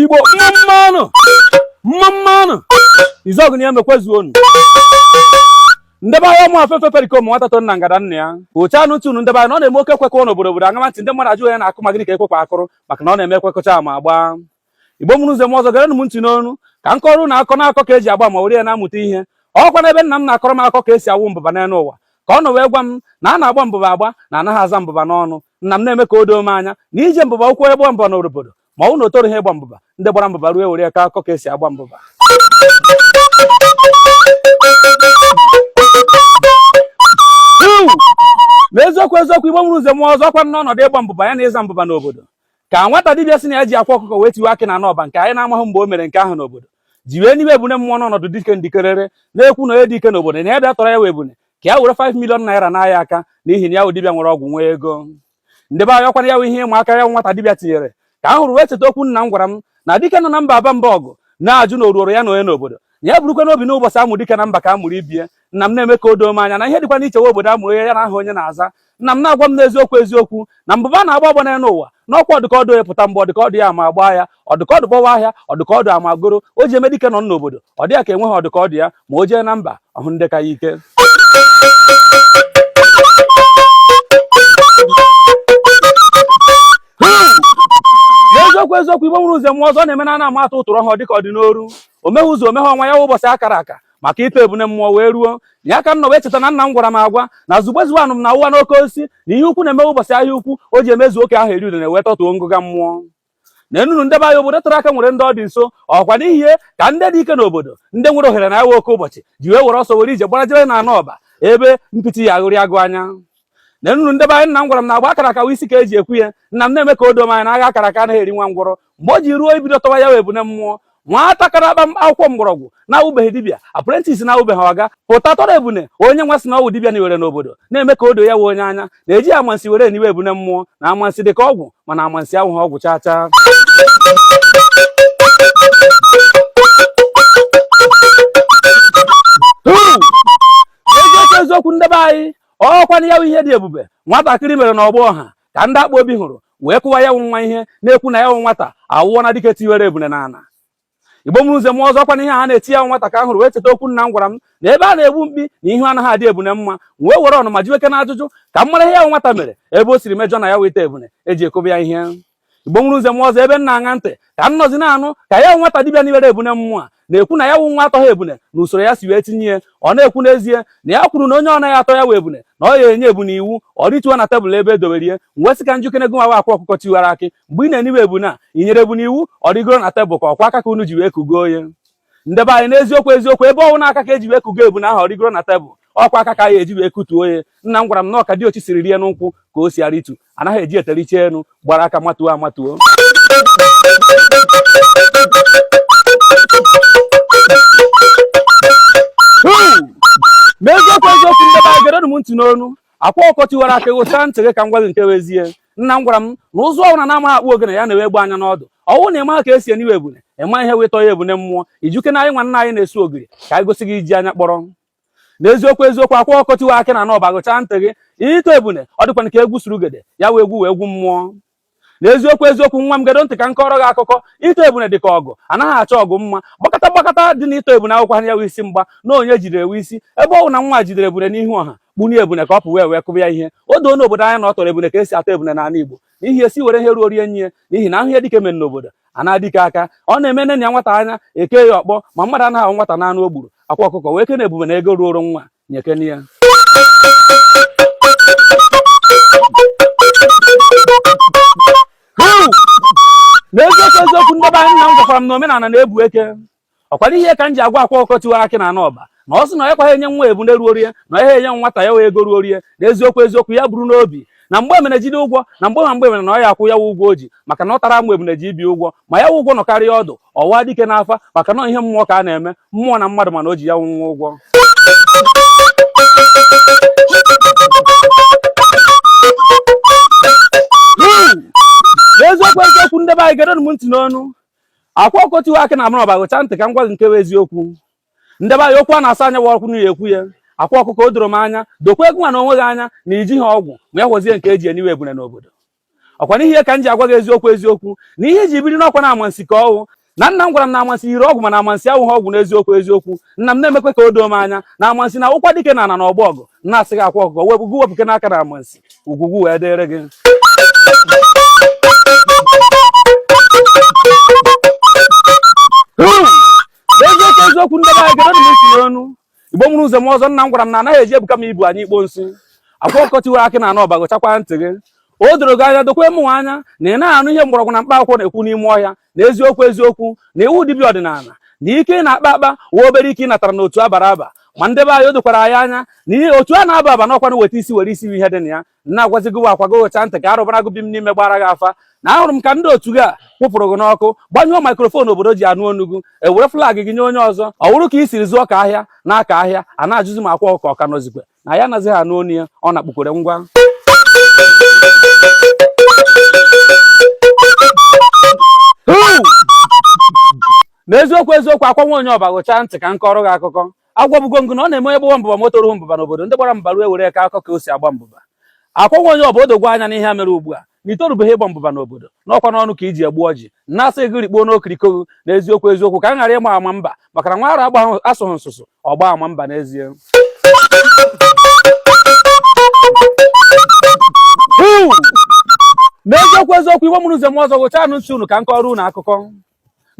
igbo mma mma nụ izuogu na iheme kwezuo nụ ndebe anyị ụmụ afefe perikom nwata to nna ngada nna ya oche anụ tunu ndebe anyị na ọ na-eme oke ekwe kụọ n'obodo obodo aṅama ntị ndị mmadụ ajụghị ya na akụ maka gịnị ka ekwekwa akụrụ maka na ọ na-eme ekwe kụcha ama agbaa igbo mụrụ nze mụọ ọzọ gere m ntị n'ọnụ ka m kọọrọ unu akọ na akọ ka eji agba ama were ya na-amụta ihe ọkwa n'ebe nna m na-akọrọ m akọ ka esi awụ mbụba n'elu ụwa ka ọ nọ wee gwa m na a na-agba mbụba agba na anaghị aza mbụba n'ọnụ nna m na-eme ka o doo m anya na ije mbụba ụkwụ egbo mbọ na obodo ma ọ bụ na o torughị ịgba mbụba ndị gbara mbụba ruo were ya ka akọ ka esi agba mbụba n'eziokwu eziokwu igbo mụrụ nze mụọ ọzọ ọkwa n'ọnọdụ ịgba mbụba ya na ịza mbụba n'obodo ka nwata dibịa sị na ya ji akwa ọkụkọ wee tiwe akị na n'ọba nke anyị na-amaghị mgbe o mere nke ahụ n'obodo ji wee niwe ebune mmụọ n'ọnọdụ dike ndikerere na-ekwu na onye dike n'obodo na ya bịa tọrọ ya wụ ebune ka ya were 5 million naira n'ahịa aka n'ihi na ya dibịa nwere ọgwụ nwee ego ndị be anyị ọkwanụ ya ihe ịma aka ya nwata dibịa tinyere ka m hụrụ wee cheta okwu nna m gwara m na dike nọ na mba aba mba ọgụ na-ajụ na oruoro ya na onye n'obodo na ya bụrụkwa n'obi n'ụbọchị a mụrụ dike na mba ka a mụrụ ibe ya nna m na-eme ka o doo m anya na ihe dịkwa n'ichewe obodo amụrụ ya ya na aha onye na-aza nna m na-agwa m n'eziokwu eziokwu na mbụba a na-agba agba n'elu ụwa na ọkwa ọ dị ka ọ dị ya pụta mgbe ọ dị ka ọ dị ya ama agbaa ya ọ dị ka ọ dị gbawa ahịa ọ dị ka ọ dị amagoro o ji eme dike nọ n'obodo ọ dị ya ka enweghị ọ dị ka ọ dị ya ma o jee na mba ọ hụ ndị ka ya ike n'eziokwu eziokwu igbo mụrụ nze mụọ ọzọ ọ na-eme na ana ama atụ ụtụrụ ọhụrụ dịka ọ dị n'oru omeghe ụzọ omeghe ọnwa ya ụbọchị akara aka maka ịtọ ebune mmụọ wee ruo ya ka m nọ wee cheta na nna m gwara m agwa na zugbezu anụ m na ụwa n'oke osisi na ihe ukwu na-eme ụbọchị ahịa ukwu o ji emezu oke ahụ eri udene wee tọtuo ngụga mmụọ na enunu ndebe anyị obodo tere aka nwere ndị ọ dị nso ọkwa n'ihi ya ka ndị dị ike n'obodo ndị nwere ohere na ya wụ oke ụbọchị ji wee were ọsọ were ije gbarajere na anụ ọba ebe mpịtị ya aghụrị agụ anya na nnu ndebe anyị nna m gwara m na agba akara akawa isi ka eji ekwu ya nna m na-eme ka o doo m anya na agha akara aka anaghị eri nwa ngwọrọ mgbe o ji ruo ibido tọwa ya wụ ebune mmụọ nwata ka na-akpa akwụkwọ mgbọrọgwụ na-awụbeghị dibịa apprentice na-awụbeghị oga pụta tọrọ ebune onye nwa sị na ọ wụ dibịa niwere n'obodo na-eme ka o doo ya wụ onye anya na-eji amansi were eniwe ebune mmụọ na amansi dị ka ọgwụ mana amansi awụghị ọgwụ chaa chaa eziokwu eziokwu ndebe anyị ọkwanụ ya wụ ihe dị ebube nwatakịrị mere na ọgbọ ọha ka ndị akpa obi hụrụ wee kụwa ya wụ nwa ihe na-ekwu na ya wụ nwata awụọ na dike tiwere ebune na ala igbo mụrụ nze mụọ ọzọ ọkwa na ihe a na-eti ya wụ nwata ka m hụrụ wee cheta okwu nna m gwara m na ebe a na-egbu mkpi na ihu anaghị adị ebune mma wee were ọnụ m jụweke na ajụjụ ka m mara ihe ya wụ nwata mere ebe o siri mejọ na ya wụ ịtọ ebune eji akụbe ya ihe igbo mụrụ nze mụọ ọzọ ebe m na-aṅa ntị ka m nọzi na-anụ ka ya nwata dibịa niwere ebune mmụọ na-ekwu na ya wụ nwa atọghị ebune na usoro ya si wee tinye ya ọ na-ekwu n'ezie na ya kwuru na onye ọ naghị atọ ya wụ ebune na ọ ya enye ebune iwu ọ rịtuo na tebụl ebe edowere ya m wee sị ka m jụkene gị nwa wụ akwa ọkụkọ tiwara akị mgbe ị na-eniwe ebune a i nyere ebune iwu ọ rịgoro na tebụl ka ọkwa aka ka unu ji wee kugoo ya ndị be anyị n'eziokwu eziokwu ebe ọ wụ na aka ka eji wee kugoo ebune ahụ ọ rịgoro na tebụl ọkwa aka ka a ya-eji wee kutuo ya nna m gwara m na ọ ka diochi siri rịa nkwụ ka o si arịtu anaghị eji ete rịchaa enu gbara aka matuo amatuo n'eziokwu eziokwu ndị be anyị gedo m ntị n'ọnụ akwa ọkụkọ tiwara akị ghụchaa ntị gị ka m gwa gị nke bụ ezie nna m gwara m na ụzụ ọwụna na-amaghị akpụ ogene ya newe egbe anya n'ọdụ ọ wụrụ na ịmaghị ka esi eniwe ebune ịma ihe wetọ ya ebune mmụọ ị jụkene anyị nwa nne anyị na-esu ogiri ka anyị gosi gị iji anya kpọrọ na eziokwu eziokwu akwa ọkụkọ tiwara akị na-anọ ọba ghụchaa ntị gị ịtọ ebune ọ dịkwana ka egwu surugede ya wụ egwu wụ egwu mmụọ na eziokwu eziokwu nwa m gedo ntị ka m kọrọ gị akụkọ ịtọ ebune dị ka ọgụ anaghị achọ ọgụ mma gbakọta gbakọta dị na ịtọ ebune awụkwaha ya wụ isi mgba na onye jidere wụ isi ebe ọ wụ na nwa jidere ebune n'ihu ọha kpunye ebune ka ọ pụ wee wee kụba ya ihe o doona obodo anya na ọ tọrọ ebune ka esi atọ ebune n'ana Igbo n'ihi esi were ihe ruoro ya nye ya n'ihi na ahụ ihe dike mere n'obodo anaa dike aka ọ na-eme enenia nwata anya eke ya ọkpọ ma mmadụ anaghị awọ nwata n'anụ o gburu akwa ọkụkọ werekene ebune na ego ruoro nwa nyekene ya n'eziokwu eziokwu ndị be anyị nna m gwakwara m na omenana na-ebu eke ọkwana ihe a ka m ji agwa akwa ọkụkọ tiwara akị na-anọ ọba na ọ sị na ya ekweghị enye nwa ebune ruoro ya na ya enye nwata ya wụ ego ruoro ya na eziokwu eziokwu ya buru n'obi na mgbe emene jide ụgwọ na mgbe ma mgbe emene na ọ ya akwụ ya ụgwọ o ji maka na ọ tara amụ ebune ji ibi ụgwọ ma ya wụ ụgwọ nọkarịa ọdụ ọ waa dike n'afa maka na ihe mmụọ ka a na-eme mmụọ na mmadụ mana o ji ya wụ nwa ụgwọ n'eziokwu eziokwu ndị be anyị gedonụ m ntị n'ọnụ akwa ọkụkọ tiwara akị na-anọ ọba ghụchaa ntị ka m gwa gị nke bụ eziokwu ndị be anyị okwu a na-asọ anya bụ ọkwụ n'ihu ekwuo ya akwa ọkụkọ o doro m anya dokwa gịnwa na onwe gị anya na ijiha ọgwụ ma ya họzie nke eji eniwe ebune n'obodo ọkwana ihe a ka m ji agwa gị eziokwu eziokwu na ihe iji biri n'ọkwa na amansi ka ọwụ na nna m gwara m na amansi yiri ọgwụ mana amansi awụghị ọgwụ n'eziokwu eziokwu nna m na-emekwe ka o doo m anya na amansi na-atụkwa dike na ana na ọgbọ ọgụ na-asị gị akwa ọkụkọ wepụ gị wepụkene aka na amansi ugwu gị wee dịrị gị eziokwu eziokwu ndị be anyị gedonụ m ntị n'ọnụ igbo mụrụ nze mụọ ọzọ nna m gwara m na anaghị eji ebuka m ibu anyụ ikpo nsị akwa ọkụkọ tiwara akị na-anọ ọba ghụchakwa ntị gị o doro gị anya dokwe mụnwa anya na ị naghị anụ ihe mgbọrọgwụ na mkpa akwụkwọ na-ekwu n'ime ọhịa na eziokwu eziokwu na ị wụ dibịa ọdịnala na ike ị na-akpa akpa wụ obere ike ị natara na otu abara aba ma ndị be anyị o dokwara anyị anya na ihe otu a na-aba aba n'ọkwa na weta isi were isi ihe dị na ya na-agwazi gị akwa gụchaa ntị ka arụbara gị bi m n'ime gbara gị afa na ahụrụ m ka ndị otu gị a kwụpụrụ gị n'ọkụ gbanyụọ maikrofon obodo ji anụ onu gị ewere flag gị nye onye ọzọ ọ wụrụ ka i siri zụọ ka ahịa na-aka ahịa a na-ajụzi m akwa ọka ọka n'ozikwe na ya anaghị anụ onu ya ọ na-akpụkwere ngwa na eziokwu eziokwu akwa nwa onye ọba gụchaa ntị ka m kọọrọ gị akụkọ agwabugo m gị na ọ na-eme onye gbawa mbụba ma o toruhu mbụba n'obodo ndị gbara mbara ewere aka akọ ka o si agba mbụba Akwa nwa onye ọba o doo gị anya n'ihe a mere ugbu a na i torubeghị ịgba mbụba n'obodo n'ọkwa n'ọnụ ka iji egbu ọjị na-asị gị rikpuo n'okiriko gị n'eziokwu eziokwu ka m ghara ịgba ama mba maka na nwa ara agba asụghị nsụsụ ọgba ama mba n'ezie n'eziokwu eziokwu igbo mụrụ nze mụọ ọzọ gụchaa anụ ntị unu ka m kọrọ unu akụkọ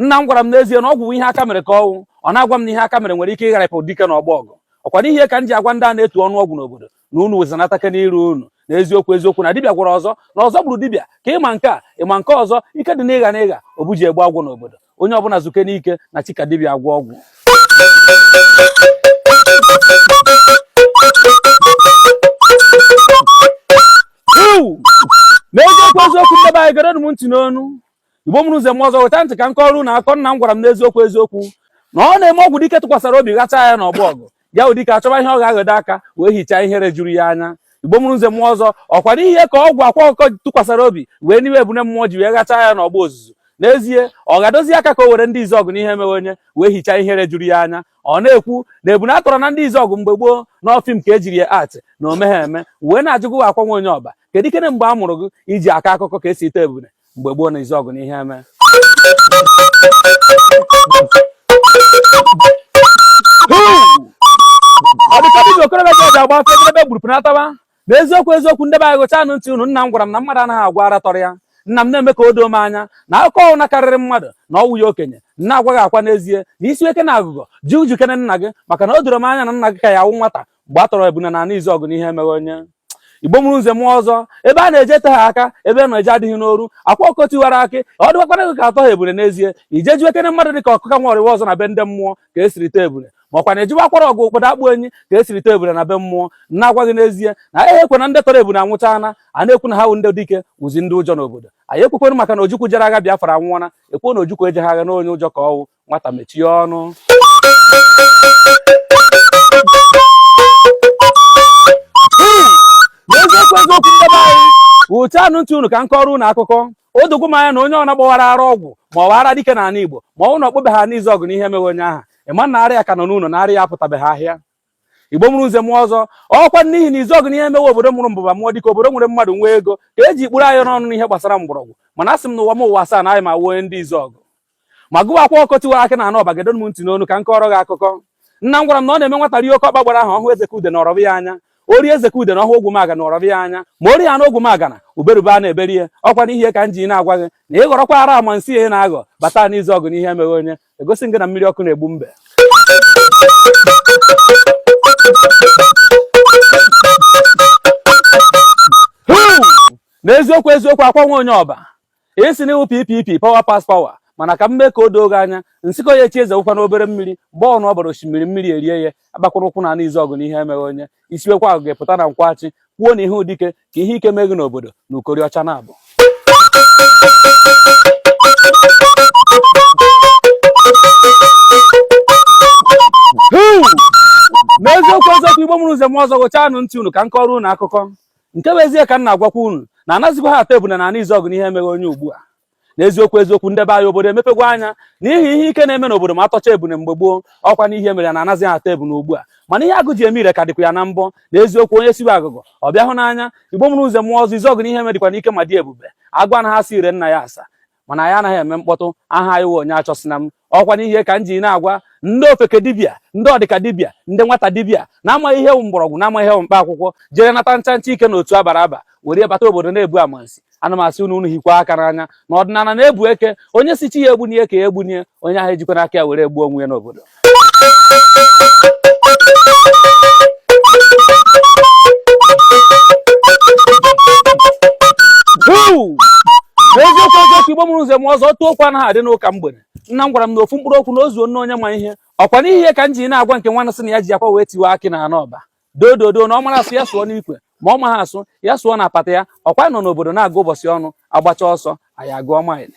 nna m gwara m n'ezie na ọgwụ wụ ihe aka mere ka ọ wụ ọ na-agwa m na ihe aka mere nwere ike ịgharịpụ dike na ọgbọ ọgụ ọkwa n'ihi ya ka m ji agwa ndị a na-etu ọnụ ọgwụ n'obodo na unu wezanata aka n'iru unu na eziokwu eziokwu na dibịa gwọrọ ọzọ na ọzọ gburu dibịa ka ịma nke a ịma nke ọzọ ike dị n'ịgha n'ịgha obuji egbu ọgwụ n'obodo onye ọbụla zukenụ ike na chi ka dibịa agwọ ọgwụ n'eziokwu eziokwu nde be anyị gere m ntị n'onu igbo mụrụ nze mụọ ọzọ weta ntị ka m kọọrọ unu akụkọ nna m gwara m n'eziokwu eziokwu na ọ na-eme ọgwụ dike tụkwasara obi ghacha ya na ọgbọ ọgụ ya wụ dike achọba ihe ọ ga-aghọdo aka wee hichaa ihere juru ya anya igbo mụrụ nze mụọ ọzọ ọkwa n'ihi ya ka ọgwụ akwa ọkụkọ tụkwasara obi wee n'iwe ebune mmụọ ji wee ghacha ya na ọgbọ ozuzu n'ezie ọ ga-adozi aka ka o were ndị izuọgụ na iheme we onye wee hichaa ihere juru ya anya ọ na-ekwu na ebune atọrọ na ndị izuọgụ mgbe gboo na ọ film ka ejiri ya act na o meghị eme wee na-ajụ gị akwa nwa onye ọba kedu ikene mgbe a mụrụ gị iji akọ akụkọ ka esi tọọ ebune mgbe gboo na izuọgụ na iheme ọ dị ka ndị okorobịa ji ọja agba afọ ebe gburu pụnataba na eziokwu eziokwu nde be anyị gụchaa anụ ntị unu nna m gwara m na mmadụ anaghị agụ arọ tọrọ ya nna m na-eme ka o doo m anya na akụkọ ọwụna karịrị mmadụ na ọ wụ ya okenye na-agwa gị akwa n'ezie na i siwe ike na agụgọ jee jụkene nna gị maka na o doro m anya na nna gị ka ya awụ nwata mgbe a tọrọ ebune na ana izuọgụ na iheme ghe onye igbo mụrụ nze mụọ ọzọ ebe a na-eje te ha aka ebe nọ eje adịghị n'oru akwa ọkụkọ tiwara akị ọ dịwakwara gị ka atọ ha ebule n'ezie i jee jụkere mmadụ dị ka ọkụka nwa ọrịwa ọzọ na be ndị mmụọ ka esiri tọọ ebule ma ọkwa na-ejiwa akwara ọgụ ụkpọdo akpụ enyi ka esiri tọọ ebule na be mmụọ na-agwa gị n'ezie na anyị ekwe na ndị tọrọ ebule anwụchaana a na-ekwu na ha wụ ndị dike wụzi ndị ụjọ n'obodo anyị ekwekwenụ maka na ojukwu jere agha Biafra anwụọna ekwuo na ojukwu ejeghị agha na onye ụjọ ka ọ wụ nwata mechie ọnụ n'eziokwu eziokwu ndị be anyị ghụchaanụ ntị unu ka m kọọrọ unu akụkọ o dogwo m anya na onye ọwụna gbawara ara ọgwụ ma ọ wụ ara dike n'ala Igbo ma ọ wụ na ọ kpụbeghị ana izuọgụ na ihe emeghị onye aha ịma na arịa ka nọ n'ụlọ na arịa apụtabeghị ahịa igbo mụrụ nze mụọ ọzọ ọkwa n'ihi na izuọgụ na iheme wụ obodo mụrụ mbụba mụọ dike obodo nwere mmadụ nwee ego ka eji kpụrụ anyị n'ọnụ n'ihe gbasara mgbọrọgwụ mana asị m na ụwa m ụwa asaa na anyị ma wụọ ndị izuọgụ ma gịwa akwa ọkụkọ tiwara akị n'ana ọba gedo m ntị n'ọnụ ka m kọọrọ gị akụkọ nna m gwara m na ọ na-eme nwata rie oke ọkpa gbara aha ọhụụ ezeka udene ọ rọbe ya anya o rie ezeka udene hụ ogwumagana ọ rọbe ya anya ma o rie ya na ogwumagana uberube a na-eberi ihe ọkwa n'ihe ka m ji na-agwa gị na ị ghọrọkwa ara amansi ị na-aghọ bata n'izuọgụ na ihe emeghị onye egosi gị na mmiri ọkụ na-egbu mbe n'eziokwu eziokwu akwa nwa onye ọba ị sị na ị wụ ppp power pass power mana ka m mee ka o doo gị anya nsịkọ ya echi eze wụkwa n'obere mmiri mgbe ọwụna ọ bara osimiri mmiri erie ya agbakwana ụkwụ n'ana izuọgụ na ihe emeghị onye i siwekwa agụgọ pụta na nkwọ achị kwuo na ị wụ dike ka ihe ike mee gị n'obodo na ukori ọcha na-abụ n'eziokwu eziokwu igbo mụrụ nze mụọ ọzọ ghụchaanụ ntị unu ka m kọọrọ unu akụkọ nke wụ ezie ka m na-agwakwa unu na anazikwagha atọ ebune n'ana izuọgụ na ihe emeghị onye ugbu a na eziokwu eziokwu nde be anyị obodo emepegwo anya n'ihi ihe ike na-eme n'obodo ma atọcha ebune mgbe gboo ọkwa n'ihe mere ya na anazi atọ ebune ugbu a mana ihe agụ ji eme ire ka dịkwa ya na mbọ na eziokwu onye siwe agụgọ ọ bịa hụ n'anya igbo mụrụ nze mụọ ọzọ izuọgụ na iheme dịkwanụ ike ma dị ebube agwa na ha si ire nna ya asa mana anyị anaghị eme mkpọtụ aha anyị wụ onye achọsina m ọkwa n'ihe ka m ji na-agwa ndị ofeke dibịa ndị ọdịka dibịa ndị nwata dibịa na-amaghị ihe wụ mgbọrọgwụ na-amaghị ihe wụ mkpa akwụkwọ jere nata ncha ncha ike na otu abara aba were bata obodo na-ebu amansi ana m asị unu unu hiekwa aka n'anya na ọdịnala na-ebu eke onye sị chi ya egbuna ya ka ya egbuna ya onye ahụ ejikwana aka ya were gbuo onwe ya n'obodo Woo! n'eziokwu eziokwu igbo mụrụ nze mụọ ọzọ ọtụtụ okwu anaghị adị n'ụka mgbe nna m gwara m na ofu mkpụrụ okwu na o zuonara onye ma ihe ọkwa n'ihe ka m ji na-agwa nke nwanụ sị na ya ji akwa wee tiwe akị n'ana ọba dododo na ọ mara asụ ya sụọ n'ikwe ma ọ maha asụ ya sụọ na apata ya ọkwa nọ n'obodo na-agụ ụbọchị ọwụna agbacha ọsọ anyị agụọ maịlị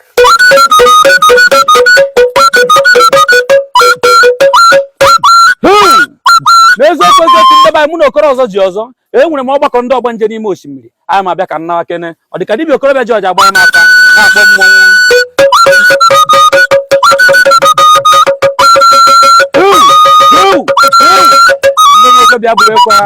n'eziokwu eziokwu nde be anyị mụ na okoro ọzọ ji ọzọ enwere m ọgbakọ ndị ọgbanje n'ime osimiri anyị ma bịa ka nnawa kene ọ dị ka dibịa okorobịa ji ọja gbara n'aka na-akpọ mmọnwụ ndị nwoke bịa bụrụ ekwe ha